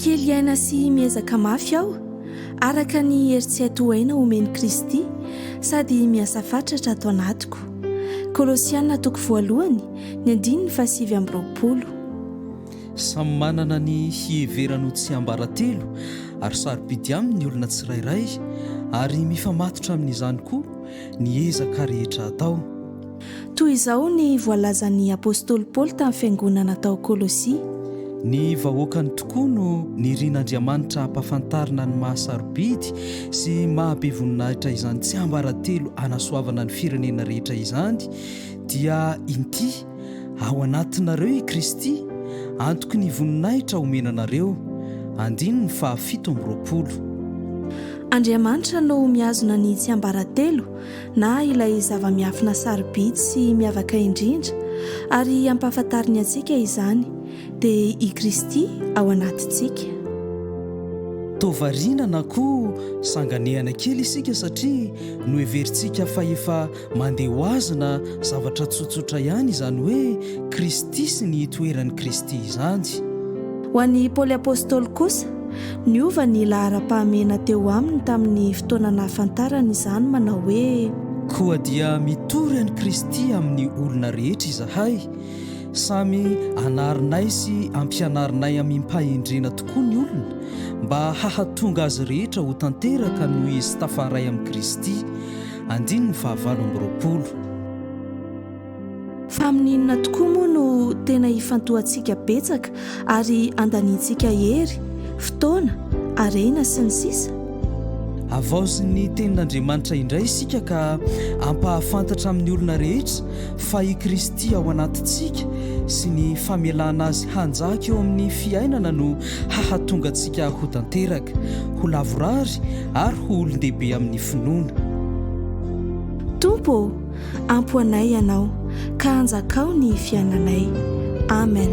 Kely aina sy miezaka mafy aho, araka ny hery tsy hay tohaina omen'i Kristy, sady miasa fatratra ato anatiko. Kolosiana toko voalohany, ny andininy fahasivy amby roapolo. Samy manana ny hiheverany ho tsiambaratelo ary sarobidy aminy ny olona tsirairay, ary mifamatotra amin'izany koa ny ezaka rehetra atao. Toy izao ny voalazan'ny apostoly Paoly tamin'ny fiangonana tao Kolosia. Ny vahoakany tokoa no nirin'Andriamanitra hampafantarina ny maha-sarobidy sy maha-be voninahitra izany tsiambaratelo hanasoavana ny firenena rehetra izany, dia inty, ao anatinareo i Kristy, antoky ny voninahitra homena anareo. Andininy faha fito amby roapolo. Andriamanitra no mihazona ny tsiambaratelo, na ilay zava-miafina sarobidy sy miavaka indrindra, ary ampahafantariny antsika izany, dia i Kristy ao anatintsika. Toa variana na koa sanganehana kely isika satria noheverintsika fa efa mandeha ho azy na zavatra tsotsotra ihany izany hoe Kristy sy ny itoeran'i Kristy izany. Ho an'i Paoly Apostoly kosa, Niova ny laharam-pahamehana teo aminy tamin'ny fotoana nahafantarany izany manao hoe. Koa dia mitory an'i Kristy amin'ny olona rehetra izahay, samy anarinay sy ampianarinay amim-pahendrena tokoa ny olona, mba hahatonga azy rehetra ho tanteraka noho izy tafaray amin'i Kristy. Andininy fahavalo amby roapolo. Fa amin'ny inona tokoa moa no tena ifantohantsika betsaka ary andaniantsika hery, fotoana, harena, sy ny sisa? Havaozin'ny Tenin'Andriamanitra indray isika ka hampahafantatra amin'ny olona rehetra fa i Kristy ao anatintsika sy ny famelana Azy hanjaka eo amin'ny fiainana no hahatonga antsika ho tanteraka, ho lavorary ary ho olon-dehibe amin'ny finoana. Tompo ô! Ampo anay Ianao, ka anjakao ny fiainanay. Amen.